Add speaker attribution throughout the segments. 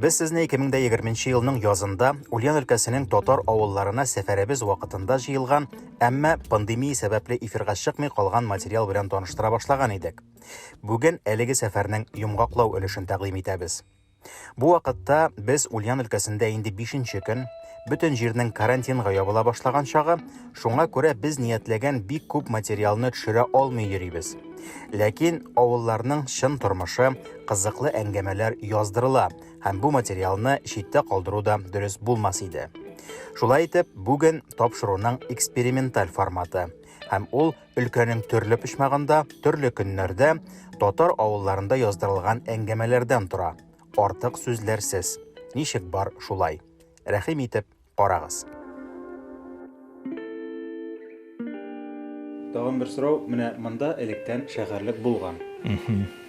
Speaker 1: Без сезне 2020 нче елның язында Ульян өлкәсенең татар авылларына сәфәребез вакытында җыелган, әмма пандемия сәбәпле эфирга чыкмый калган материал белән таныштыра башлаган идек. Бүген әлеге сәфәрнең йомгаклау өлешен тәкъдим итәбез. Бу вакытта без Ульян өлкәсендә инде бишенче көн, бөтен җирнең карантинга ябыла башлаган чагы, Шуңа күрә без ниятләгән бик күп материалны төшерә алмый йөрибез. Ләкин авылларның чын тормышы, кызыклы әңгәмәләр яздырыла һәм бу материалны читтә калдыру да дөрес булмас иде. Шулай итеп, бүген тапшыруның эксперименталь форматы һәм ул өлкәнең төрле почмагында, төрле көннәрдә татар авылларында яздырылган әңгәмәләрдән тора. Артык сүзләрсез. Ничек бар, шулай. Рәхим итеп, карагыз. Тагын бер сорау, менә монда электән шәһәрлек булган.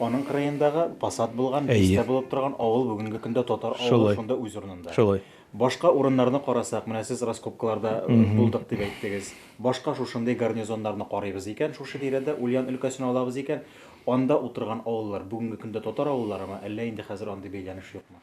Speaker 1: Аның кырыендагы посад булган, бистә булып торган авыл бүгенге көндә татар авылы шунда үз урынында. Шулай. Башка
Speaker 2: урыннарны
Speaker 1: карасак, менә сез раскопкаларда булдык дип әйттегез. Башка шушындый гарнизоннарны карыйбыз икән, шушы тирәдә Ульян өлкәсен алабыз икән, анда утырган авыллар бүгенге көндә татар авылларымы, әллә инде хәзер андый бәйләнеш юкмы?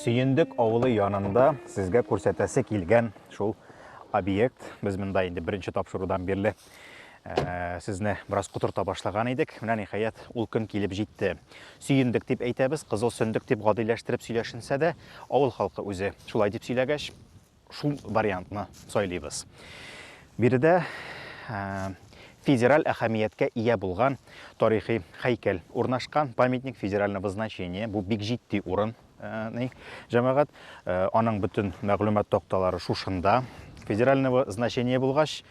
Speaker 1: Сөендек авылы янында сезгә күрсәтәсе килгән шул объект. Без монда инде беренче тапшырудан бирле Э, сезне бераз котырта башлаган идек менә ниһаять ул көн килеп җитте сөендек дип әйтәбез кызыл сөндек дип гадиләштереп сөйләшенсә дә авыл халкы үзе шулай дип сөйләгәч шул вариантны сайлыйбыз. Биредә федераль әһәмияткә ия булган тарихи хәйкәл урнашкан, памятник федерального значения, бу бик җитди урын, ни, җәмәгать, аның бөтен мәгълүмат такталары шушында. Федерального значения булгач,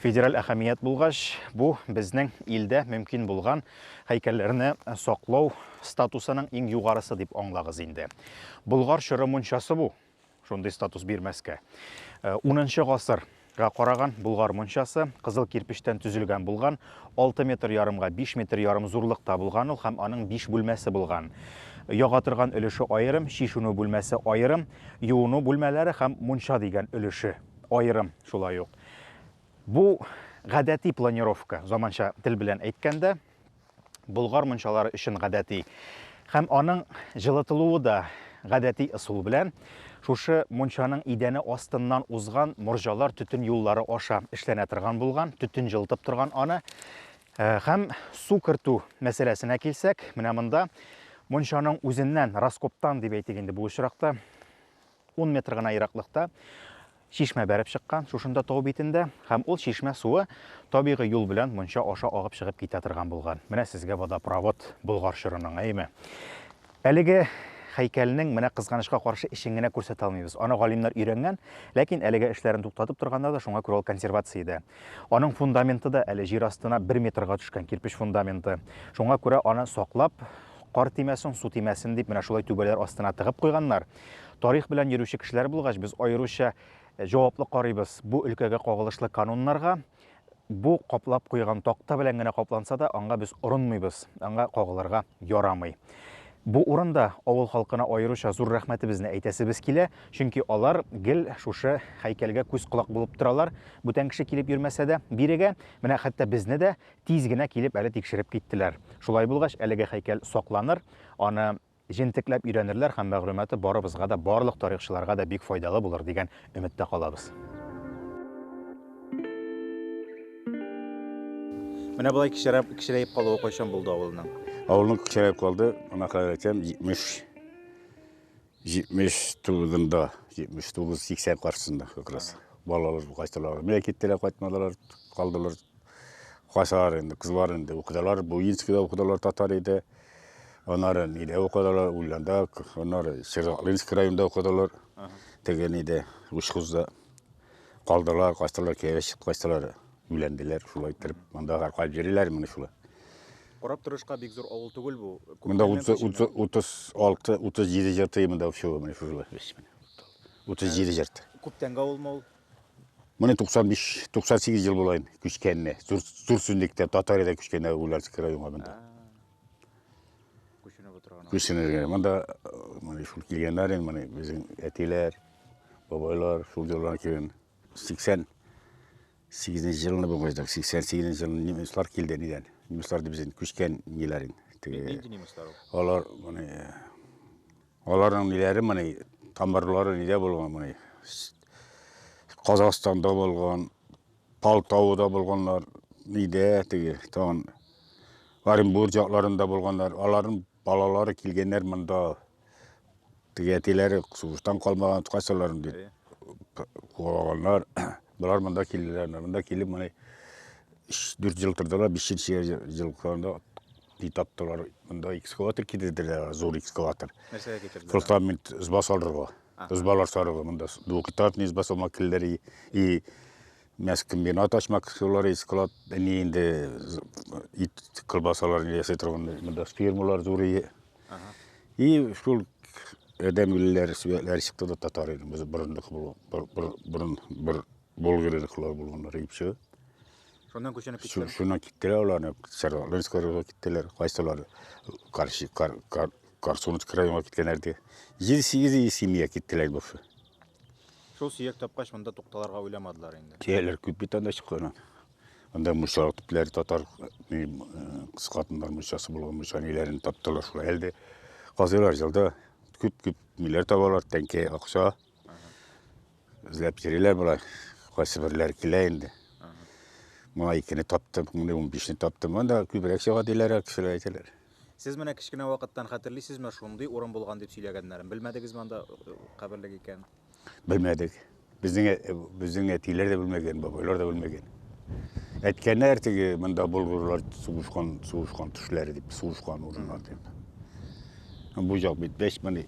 Speaker 1: федераль әһәмият булгач, бу безнең илдә мөмкин булган хәйкәлләрне саклау статусының иң югарысы дип аңлагыз инде. Болгар чоры мунчасы бу. Шундый статус бирмәскә. Э, унынчы гасыр га караган Болгар мончасы кызыл кирпечтән төзелгән булган, 6 метр ярымга 5 метр ярым зурлыкта булган ул һәм аның 5 бүлмәсе булган. Яга торган өлеше аерым, чишүнү бүлмәсе аерым, юыну бүлмәләре һәм мунча дигән өлеше аерым шулай ук. Бу гадәти планировка, заманча тел белән әйткәндә, Болгар мунчалары өчен гадәти. Һәм аның җылытылуы да гадәти ысул белән шушы мунчаның идәне астыннан узган морҗалар төтен юллары аша эшләнә торган булган, төтен җылытып торган аны. Э, һәм су кертү мәсьәләсенә килсәк, менә монда мунчаның үзеннән, раскоптан дип әйтик инде бу очракта, ун метр гына ераклыкта чишмә бәреп чыккан, шушында тау битендә, һәм ул чишмә суы табигый юл белән монча аша агып чыгып китә торган булган. Менә сезгә водопровод Болгар чорының, әйеме? Әлеге һәйкәлнең менә кызганычка каршы эшен генә күрсәтә алмыйбыз. Аны галимнәр өйрәнгән, ләкин әлегә эшләрен туктатып торганнар да, шуңа күрә ул консервациядә. Аның фундаменты да әле җир астына бер метрга төшкән кирпеч фундаменты. Шуңа күрә аны саклап, кар тимәсен, су тимәсен дип, менә шулай түбәләр астына тыгып куйганнар. Тарих белән йөрүче кешеләр булгач, без аеруча җаваплы карыйбыз бу өлкәгә кагылышлы кануннарга. Бу каплап куйган такта белән генә капланса да, аңа без орынмыйбыз, аңа кагылырга ярамый. Бу урында авыл халкына аеруча зур рәхмәтебезне әйтәсебез килә, чөнки алар гел шушы һәйкәлгә күз-колак булып торалар, бүтән кеше килеп йөрмәсә дә бирегә. Менә хәтта безне дә тиз генә килеп әле тикшереп киттеләр. Шулай булгач, әлеге һәйкәл сакланыр, аны Җентекләп өйрәнерләр һәм мәгълүматы барыбызга да, барлык тарихчыларга да бик файдалы булыр дигән өметтә калабыз. Менә болай кечерәп, кечерәеп калуы кайчан булды авылның? Авылның кечерәеп
Speaker 3: калды, ана хәләл әйтәм, 70 70 тулында, 79-80 каршысында как раз. Балалар кайттылар, мә киттеләр, кайтмадылар, калдылар. Качалар инде, кызлар инде укыдылар, Буинскида укыдылар татар иде. Аннары нидә укыдылар, Ульянда, аннары Сергоклинский районда укыдылар. Теге нидә, Учхузда. Калдылар, качтылар, кияүгә чыгып качтылар, өйләнделәр, шулай иттереп. Монда гаркалап йөриләр менә шулай. Карап
Speaker 1: торышка бик зур авыл түгел бу. Монда
Speaker 3: Күптәннән 30 күченгән. 30 36, 37 җырты монда все менә шулай. Менә. 37 җырты. Күптәнге авылмы ул?
Speaker 1: Менә
Speaker 3: 95-98 ел булайын күчкәнне. Зур сүнлектә Татарияда күчкәнне Улярск районга монда.
Speaker 1: Күченеп утырган. Күченеп монда
Speaker 3: менә шул килгәннәр инде менә безнең әтиләр, бабайлар шул җырлар килгән. 80 8 нче елны бу гыйдак 88 нче елны немецлар килде нидән немецлар дип үзен күчкән ниләрен теге нинди
Speaker 1: немецлар алар моны
Speaker 3: Аларның ниләре моны, тамырлары нидә булган моны? Казахстанда булган, Палтауда булганлар, нидә теге, тагын Оренбург якларында булганлар, аларның балалары килгәннәр монда. Теге әтиләре сугыштан калмаган кайсыларын дип куаганнар. Болар монда килделәр, монда килеп моны 4 ел тордылар, 5 ел җылкында Ди таптылар, монда экскаватор китерделәр, зур экскаватор. Нәрсәгә китерделәр?
Speaker 1: Фундамент изба
Speaker 3: салырга. Избалар салырга монда. Двухэтажный изба салмак килдер и, и мясокомбинат ачмак кылар и склад. Ни инде ит колбасалар ясый торган монда фирмалар зур и. И шул адәм үлеләр, сүбәләр чыкты да татар инде. Без борындык бу, бер, бер, бер, бер Болгарлыклар булганнар икесе. Шуннан
Speaker 1: күченеп киттеләр. Шуннан киттеләр аларны
Speaker 3: Саралынскорга киттеләр. Кайсылар Карши Кар Кар Карсунск районга киткәннәр ди. 7-8 семья киттеләр бу. Шул
Speaker 1: сөяк тапкач монда тукталарга уйламадылар инде. Тияләр күп бит анда
Speaker 3: чыккан. Анда муса типләр татар кыз хатыннар мусасы булган муса ниләрен таптылар шул әлде. Казыйлар җылда күп-күп миләр табалар, тәңкә акча. Эзләп йөриләр болар. Кайсы берләр килә инде. Моңа икене таптым, моңа унбишне таптым. Анда күбрәк чыга диләр, кешеләр әйтәләр. Сез менә кечкенә
Speaker 1: вакыттан хәтерлисезме, шундый урын булган дип сөйләгәннәрен? Белмәдегезме анда э, каберлек икән? Белмәдек.
Speaker 3: Безнең э, безнең әтиләр дә белмәгән, бабайлар да белмәгән. Әйткәннәр теге монда болгарлар сугышкан, сугышкан төшләре дип, сугышкан урыннар дип. Бу җак бит бәш мени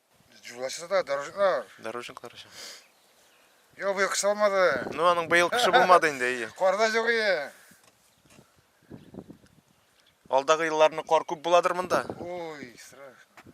Speaker 4: Җулашы да, дорожниклар. Дорожниклар өчен.
Speaker 5: Йо,
Speaker 4: быел кыш алмады. Ну, аның быел кышы булмады
Speaker 5: инде, әйе. Карда юк ие. Алдагы елларны кар күп буладыр монда? Ой,
Speaker 4: страшно.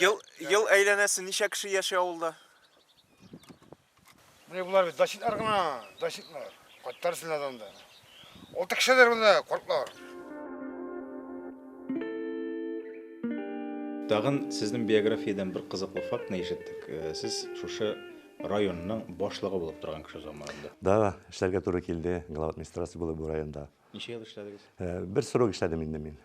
Speaker 5: Ел, ел әйләнәсе ничә кеше яши авылда?
Speaker 4: Менә болар бит дачитлар гына, дачитлар. Каттар сенәдә анда. Алты кешедер монда картлар.
Speaker 1: Тагын сезнең биографиядән бер кызыклы фактны ишеттек. Э, сез шушы районның башлыгы булып торган кеше заманында. Да, эшләргә туры
Speaker 6: килде. Глава администрации булып бу районда. Ничә ел эшләдегез?
Speaker 1: Бер срок эшләдем
Speaker 6: инде мин.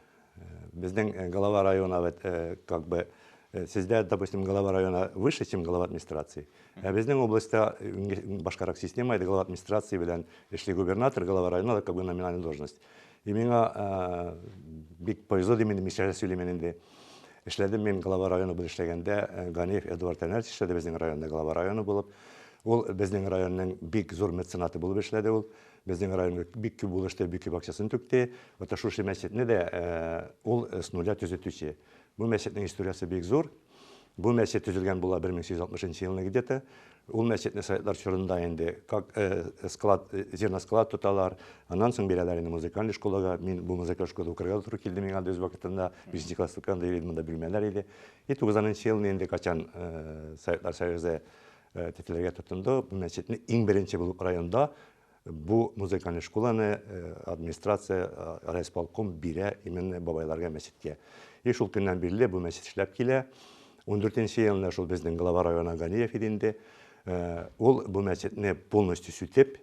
Speaker 6: Безнең глава района бит как бы сездә, допустим, глава района выше, чем глава администрации. Ә безнең областьта башкарак система иде, глава администрации белән эшли губернатор, глава района да как бы номинальная должность. И миңа бик повезло дим инде, мичә сөйлим инде. Эшләдем мин глава района белән эшләгәндә, Ганеев Эдуард Әнәрч эшләде безнең районда глава района булып. Ул безнең районның бик зур меценаты булып эшләде ул. Безнең районга бик күп булышты, бик күп акчасын түкте. Ата шушы мәчетне дә ул с нуля төзетүче. Бу мәчетнең историясе бик зур. Бу мәчет төзелгән була 1860 нчы елны где-то. Ул мәчетне советлар чорында инде как склад, зерносклад тоталар. Аннан соң бирәләр инде музыкаль школага. Мин бу музыкаль школада укырга да туры килде миңа да үз вакытында. Бишенче класста укыганда йөри идем, монда бүлмәләр иде. И тугызанынчы елны инде качан советлар союзы Тетелергә тотынды. Бу мәчетне иң беренче булып районда бу музыкальный школаны администрация, райисполком бирә именно бабайларга мәчеткә. И шул көннән бирле бу мәчет эшләп килә. Ундүртенче елында шул безнең глава района Ганиев иде инде. Ул бу мәчетне полностью сүтеп,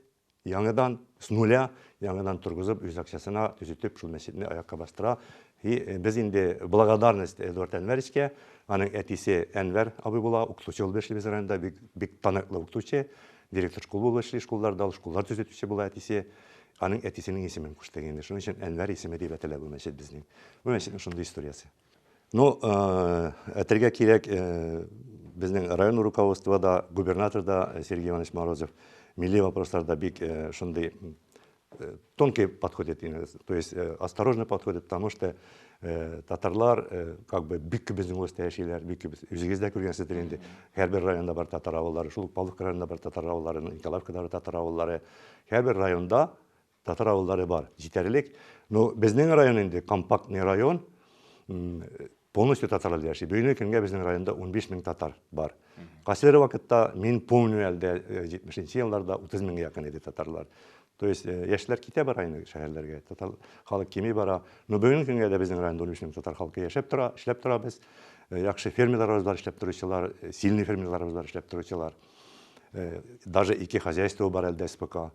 Speaker 6: Яңыдан, с нуля, яңыдан торгызып, үз акчасына төзетеп, шул мәчетне аякка бастыра. И без инде благодарность Эдуард Әнвәровичка, аның әтисе Әнвәр абый була, укытучы булып эшли без районда, бик, бик таныклы укытучы, директор школ булып эшли школларда, ул школлар төзетүче була әтисе. Аның әтисенең исемен куштык инде, шуның өчен Әнвәр исеме дип әтелә бу мәчет безнең. Бу мәчетнең шундый историясе. Ну, әтергә кирәк, безнең район руководство да, губернатор да Сергей Иванович Морозов милли вопросларда бик шундый тонкий подход итә, то есть осторожный подход итә, потому что татарлар как бы бик күп безнең устә яшиләр, бик күп үзегез дә күргәнсездер инде, һәрбер районда бар татар авыллары, шул ук Павловка районында бар татар авыллары, Николаевкада бар татар авыллары, һәрбер районда Татар авыллары бар, җитәрлек. Ну, безнең район инде компактный район. Полностью татарлар яши. Бүгенге көнгә безнең районда 15 мең татар бар. Кайсылары вакытта мин помню әлдә 70-нче елларда 30 меңгә якын иде татарлар. То есть яшьләр китә бара инде шәһәрләргә. Татар халык кими бара. Но бүгенге көнгә дә безнең районда 15 мең татар халкы яшәп тора, эшләп тора без. Яхшы фермерларыбыз бар эшләп торучылар, сильный фермерларыбыз бар эшләп торучылар. Даже ике хозяйство бар әлдә спокойно.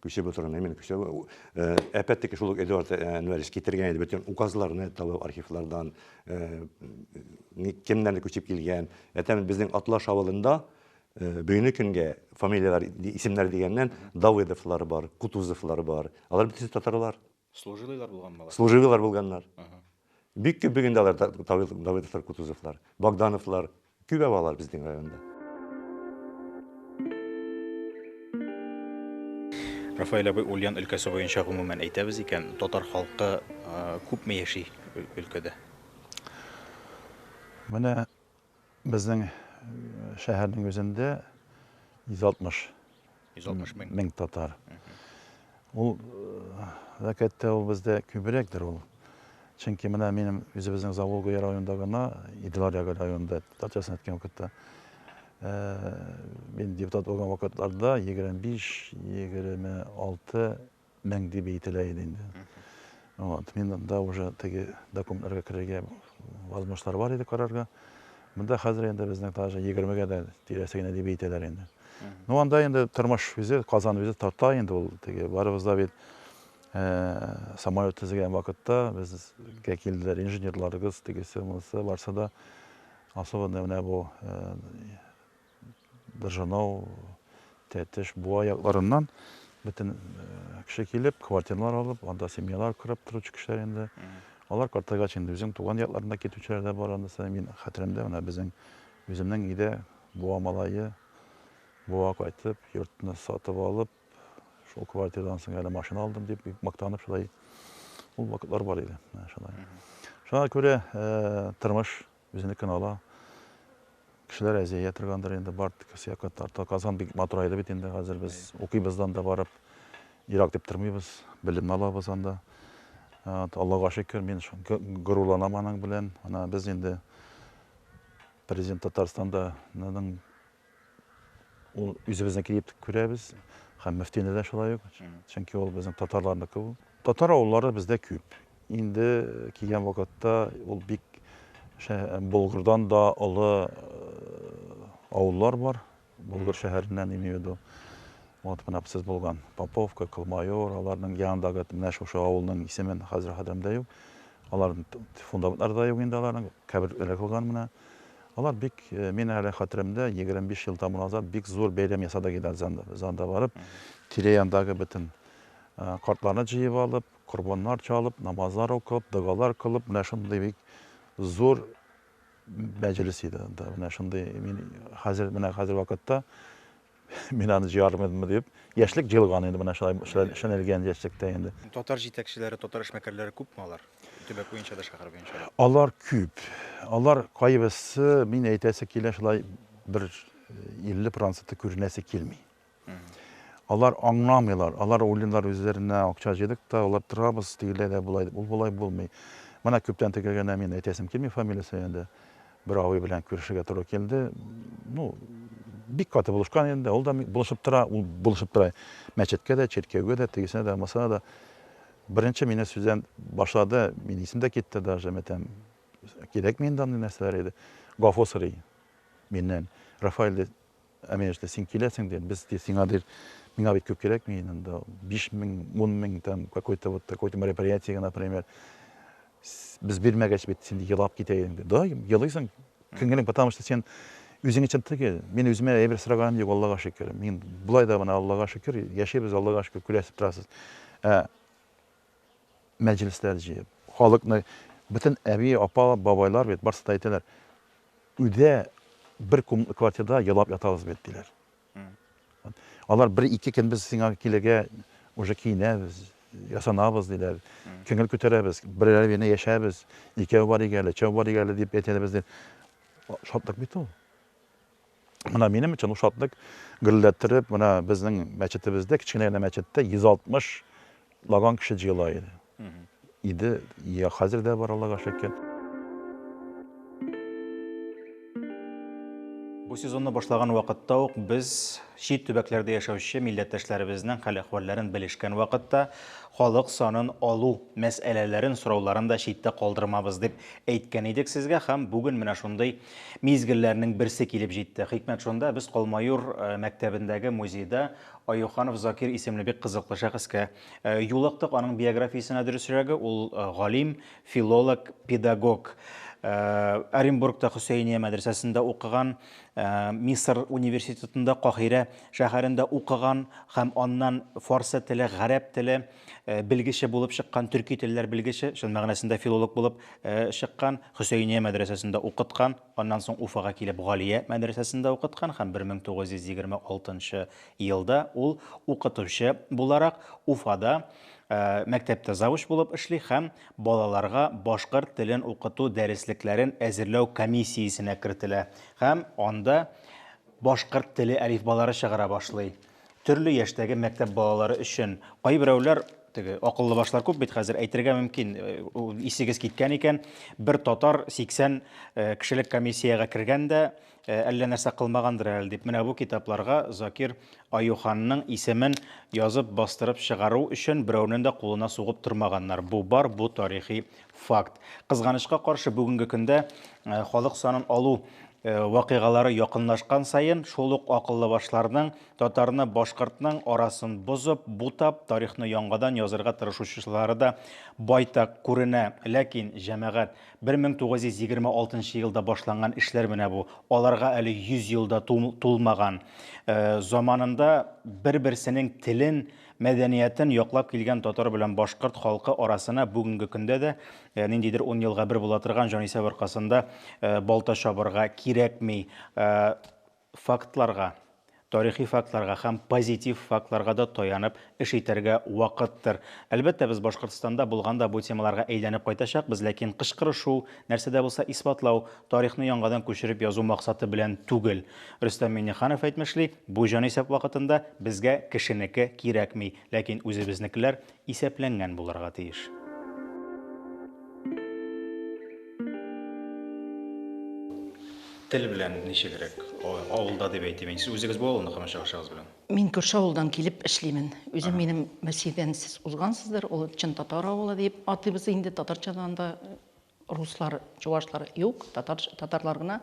Speaker 6: Күчеп утырган, именно күчеп. Опять-таки шул ук Эдуард Әнвәрович китергән иде бөтен указларны табу архивлардан, кемнәр күчеп килгән. Әтәм безнең Атлаш авылында бүгенге көнгә фамилияләр, исемнәр дигәннән Давыдовлар бар, Кутузовлар бар. Алар бөтенесе татарлар.
Speaker 5: Служилыйлар булганмы алар? Служилыйлар булганнар.
Speaker 6: Бик күп бигендә алар Давыдовлар, Кутузовлар, Богдановлар, күп алар безнең районда.
Speaker 1: Рафаэль абый, Ульян өлкәсе буенча гомумән әйтәбез икән, татар халкы күпме яши өлкәдә?
Speaker 7: Менә Безнең шәһәрнең үзендә 160 160
Speaker 1: мең. мең татар.
Speaker 7: Ул вәкәттә ул бездә күбрәктер ул. Чөнки менә минем үзебезнең Заволгуя районында гына, Иделаряга районында, татарчасын әйткән вакытта, мин депутат булган вакытларда 25-26 мең дип әйтелә иде инде. Вот, мин анда уже теге документларга керергә возможностьлар бар иде карарга. Монда хәзер инде безнең даже 20-гә дә тирәсе генә дип әйтәләр инде. Ну, анда инде тормыш үзе, Казан үзе тарта инде ул. Теге барыбыз да бит э, самолет тезгән вакытта безгә килделәр инженерларыбыз, тегесе, монысы, барсы да особенно менә бу э, Быржанау, Тәтеш, Буа якларыннан бөтен кеше килеп, квартиралар алып, анда семьялар корып торучы кешеләр инде. Алар картайгач инде үзең туган якларына китүчеләр дә бар анысы. Мин хәтеремдә менә безнең үземнең өйдә Буа малае Буа кайтып, йортны сатып алып, шул квартирадан соң әле машина алдым дип бик мактанып шулай ул вакытлар бар иде. Шулай. Шуңа күрә тормыш Үзенекен ала. Кешеләр әзия торгандыр инде, бар кесә катарта. Казан бик матурайды бит инде хәзер. Без укыйбыздан да барып, ерак дип тормыйбыз. Белемне алабыз анда. Аллага шөкер, мин горурланам аның белән. Ана без инде президент Татарстанда Ул үзебезнеке дип күрәбез һәм мөфтине дә шулай ук, чөнки ул безнең татарларныкы ул. Татар авыллары бездә күп. Инде килгән вакытта ул бик Болгрдан да олы авыллар бар. Болгр шәһәреннән имею виду. Вот менә сез булган Поповка, Кылмайор, аларның янындагы менә шушы авылның исемен хәзер хәтеремдә юк. Аларның фундаментлары да юк инде аларның, каберләре калган менә. Алар бик, мин әле хәтеремдә, егерме биш ел тәмам назад бик зур бәйрәм ясадык иде Дзанда барып, тирә-яндагы бөтен картларны җыеп алып, корбаннар чалып, намазлар укып, догалар кылып, менә шундый бик зур мәҗлес иде анда. Менә шундый мин хәзер, менә хәзер вакытта Мин аны җыярмын идемме дип. Яшьлек җылган инде менә шулай шәнәлгән яшьлектә инде. Татар җитәкчеләре,
Speaker 1: татар эшмәкәрләре күпме алар? Төбәк буенча да, шәһәр буенча да. Алар күп.
Speaker 7: Алар кайбысы, мин әйтәсе килә, шулай бер 50 проценты күренәсе килми. Алар аңламыйлар, алар уйлыйлар үзләренә акча җыйдык та, алар торабыз, тегеләй дә, болай, ул болай булмый. Менә күптән тегелгәннәр, мин әйтәсем килми фамилиясе инде. Бер абый белән күрешергә туры килде. Ну, бик каты булышкан инде, ул да булышып тора, ул булышып тора. Мәчеткә дә, чиркәүгә дә, тегесенә дә, масына да. Беренче мине сүздән башлады, мин исем дә китте даже, мәтәм, кирәкми инде андый нәрсәләр иде. Гафу сорый миннән. Рафаэль, ди, Ә мин яшьтә син киләсең дим, без ди сиңа ди, миңа бит күп кирәкми ин анда, биш мең, ун мең там какой-то вот такой-то мероприятиегә, например, без бирмәгәч бит син ди елап китә идең ди. Да, елыйсың, күңелең, потому что син үзең өчен түгел. Мин үземә әйбер сораганым юк, Аллага шөкер. Мин болай да менә Аллага шөкер, яшибез, Аллага шөкер, күрәсез, торасыз. Ә. мәҗлесләр җыеп, халыкны, бөтен әби, апа, бабайлар бит, барсы да әйтәләр, өйдә бер комнатлы квартирада елап ятабыз бит, диләр. Алар бер-ике көн без сиңа килергә уже киенәбез, ясанабыз, диләр. Күңел күтәрәбез, берәр генә яшәбез, икәү барыйк әле, өчәү барыйк әле, дип әйтәләр бездә. Шатлык бит ул. Менә минем өчен ул шатлык гөрләттереп, менә безнең мәчетебездә, кечкенә генә мәчеттә 160 лаган кеше җыела иде. Иде, я хәзер дә бар, Аллага шөкер.
Speaker 1: Бу сезонны башлаган вакытта ук без чит төбәкләрдә яшәүче милләттәшләребезнең хәл-әхвәлләрен белешкән вакытта халык санын алу мәсьәләләрен, сорауларын да читтә калдырмабыз дип әйткән идек сезгә һәм бүген менә шундый Мизгелләрнең берсе килеп җитте. Хикмәт шунда, без Колмаюр мәктәбендәге музейда Аюханов Закир исемле бик кызыклы шәхескә юлыктык. Аның биографиясенә дөресрәге, ул галим, филолог, педагог. Оренбургта Хөсәения мәдрәсәсендә укыган, Мисыр университетында Каһирә шәһәрендә укыган һәм аннан фарсы теле, гарәп теле, Э, белгече булып чыккан төрки телләр белгече чын мәгънәсендә филолог булып э, чыккан хөсәйния мәдрәсәсендә укыткан аннан соң уфага килеп галия мәдрәсәсендә укыткан һәм 1926 елда ул укытучы буларак уфада э, мәктәптә завуч булып эшли һәм балаларга башкорт телен укыту дәреслекләрен әзерләү комиссиясенә кертелә һәм анда башкорт теле әлифбалары чыгара башлый Төрле яшьтәге мәктәп балалары өчен кайберәүләр теге акыллы башлар күп бит хәзер әйтергә мөмкин э, исегез киткән икән бер татар 80 э, кешелек комиссиягә кергән дә э, әллә нәрсә кылмагандыр әле дип менә бу китапларга Закир Аюханның исемен язып бастырып чыгару өчен берәүнең дә кулына сугып тормаганнар бу бар бу тарихи Факт. Кызганычка каршы, бүгенге көндә халык санын алу вакыйгалары якынлашкан саен, шул ук акыллы башларның татарны башкортның арасын бозып, бутап, тарихны яңадан язырга тырышучылары да байтак күренә. Ләкин, җәмәгать, 1926 елда башланган эшләр менә бу, аларга әле 100 ел да тулмаган. Заманында бер-берсенең телен, Мәдәниятен яклап килгән татар белән башкорт халкы арасына бүгенге көндә дә ниндидер ун елга бер була торган җанисәп аркасында балта чабырга кирәкми. Фактларга, тарихи фактларга һәм позитив фактларга да таянып эш итәргә вакыттыр. Әлбәттә, без Башкортстанда булганда бу темаларга әйләнеп кайтачакбыз, ләкин кычкырышу, нәрсә дә булса исбатлау, тарихны яңадан күчереп язу максаты белән түгел. Рөстәм Миңнеханов әйтмешли, бу җанисәп вакытында безгә кешенеке кирәкми, ләкин үзебезнекеләр исәпләнгән булырга тиеш. Тел белән ничегрәк? Авылда дип әйтим мин. Сез үзегез бу авылны кама чыгышыгыз белән? Мин күрше авылдан
Speaker 8: килеп эшлимен. Үзем минем мәсидән сез узгансыздыр, ул чын татар авылы дип атыйбыз инде татарчадан да Руслар, чувашлар юк, татар, татарлар гына.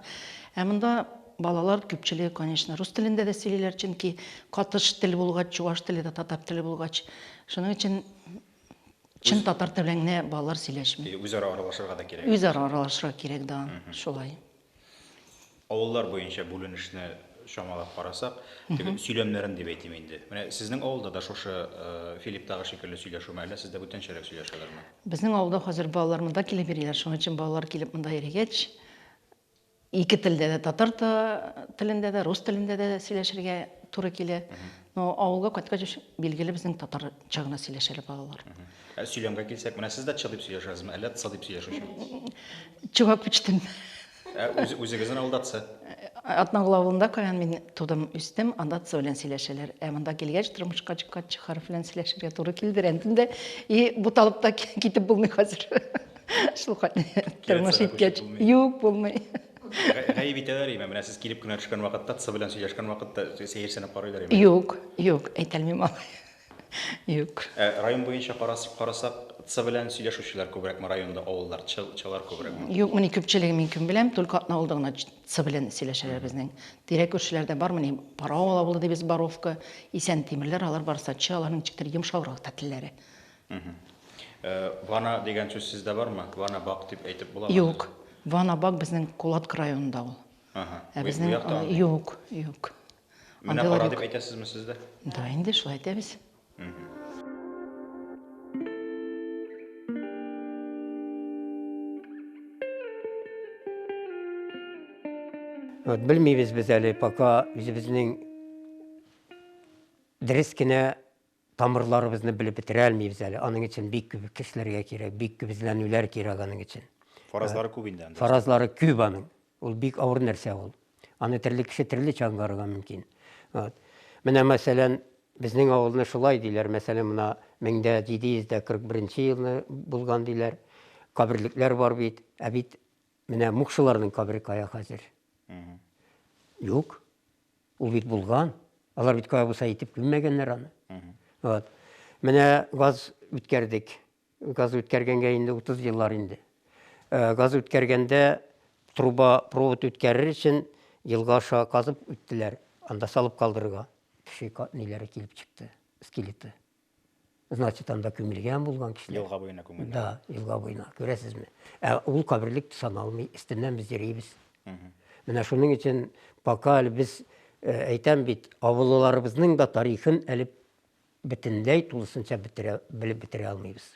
Speaker 8: Ә монда балалар күпчелеге, конечно, рус телендә дә сөйлиләр, чөнки катыш тел булгач, чуваш теле дә татар теле булгач, шуның өчен чын татар теле белән генә балалар сөйләшми. Үзара аралашырга да
Speaker 1: кирәк. Үзара аралашырга кирәк,
Speaker 8: да, шулай.
Speaker 1: Авыллар буенча бүленешне чамалап карасак, теге сөйләмнәрен дип әйтим инде. Менә сезнең авылда да шушы э, Филипптагы шикелле сөйләшүме, әллә сездә бүтәнчәрәк сөйләшәләрме? Безнең авылда хәзер
Speaker 8: балалар монда килеп йөриләр, шуның өчен балалар килеп монда йөрегәч, ике телдә дә татар та- телендә дә, рус телендә дә сөйләшергә туры килә. Но авылга кайткач, билгеле безнең татарча гына сөйләшәләр балалар. Ә сөйләмгә килсәк,
Speaker 1: менә сез дә чы дип сөйләшәсезме, әллә тсы дип сөйләшүче? Чувак
Speaker 8: почтым. Ә үз,
Speaker 1: үзегезнең авылда тсы? Атнагыл
Speaker 8: авылында каян мин тудым, үстем, анда тсы белән сөйләшәләр. Ә монда килгәч, тормышка чыккач, чы хәреф белән сөйләшергә туры килде рәнтемдә. И буталып та китеп булмый хәзер. Шул хәтле тормыш иткәч, юк булмый. Гаеп
Speaker 1: итәләр име? Менә сез килеп кенә төшкән вакытта, тсы белән сөйләшкән вакытта сәерсенеп карыйлар име? Юк, юк,
Speaker 8: әйтәлмим алай. Юк. Ә район буенча
Speaker 1: карасып карасак, цы белән сөйләшүчеләр күбрәкме районда, авыллар, чы, чылар күбрәкме? Юк, мени күпчелеге мин
Speaker 8: кем беләм, только атна булды гына цы белән сөйләшәләр безнең. Тирә күршеләрдә бар мени Параул авылы дибез, Боровка, Исән Тимерләр, алар барысы да чы, аларның ничектер йомшаграк та телләре. Э,
Speaker 1: вана дигән сүз сездә бармы? Вана бак дип әйтеп буламы? Юк. Вана
Speaker 8: бак безнең Кулатка районында ул. Аһа. Ә Бу- безнең, бу якта андый. юк, юк. Менә
Speaker 1: Андыйлар кара юк. дип әйтәсезме сез дә? Да, инде шулай
Speaker 8: әйтәбез.
Speaker 9: Вот белмибез без әле пока үзебезнең дөрес кенә тамырларыбызны белеп бетерә алмыйбыз әле. Аның өчен бик күп кешеләргә кирәк, бик күп эзләнүләр кирәк аның өчен. Фаразлары күп инде
Speaker 1: анда. Фаразлары күп
Speaker 9: аның. Ул бик авыр нәрсә ул. Аны төрле кеше төрлечә аңларга мөмкин. Вот. Менә мәсәлән, безнең авылны шулай диләр. Мәсәлән, мына 1741 елны булган диләр. Каберлекләр бар бит. Ә бит Менә мукшыларның кабере кая хәзер? Юк. Ул бит булган. Алар бит кая булса итеп күммәгәннәр аны. Вот. Менә газ үткәрдек. Газ үткәргәнгә инде 30 еллар инде. Э, газ үткәргәндә труба провод үткәрер өчен елга аша казып үттеләр анда салып калдырырга кеше ниләре килеп чыкты скелеты Значит, анда күмелгән булган кешеләр. Елга буена күмелгән. Да,
Speaker 1: елга буена,
Speaker 9: күрәсезме? Ә ул каберлек саналмый, истиннән без йөрибез. Менә шуның өчен пока әле без э, әйтәм бит, авылларыбызның да тарихын әле бөтенләй тулысынча бетерә, белеп бетерә алмыйбыз.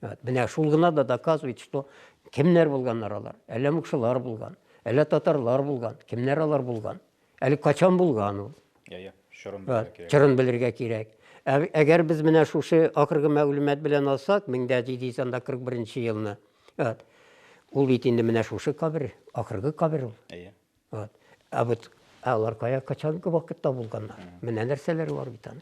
Speaker 9: Вот, менә шул гына да доказывает, что кемнәр булганнар алар? Әллә мукшылар булган, әллә татарлар булган, кемнәр алар булган? Әле качан булган ул? Я, я, чорын белергә кирәк. Чорын белергә кирәк. Әгәр без менә шушы акыргы мәгълүмат белән алсак, 1741 елны, вот, ул бит инде менә шушы кабер, акыргы кабер ул. Әйе. Вот. Ә вот алар кая качанкы вакытта булганнар? Менә нәрсәләр бар бит аның.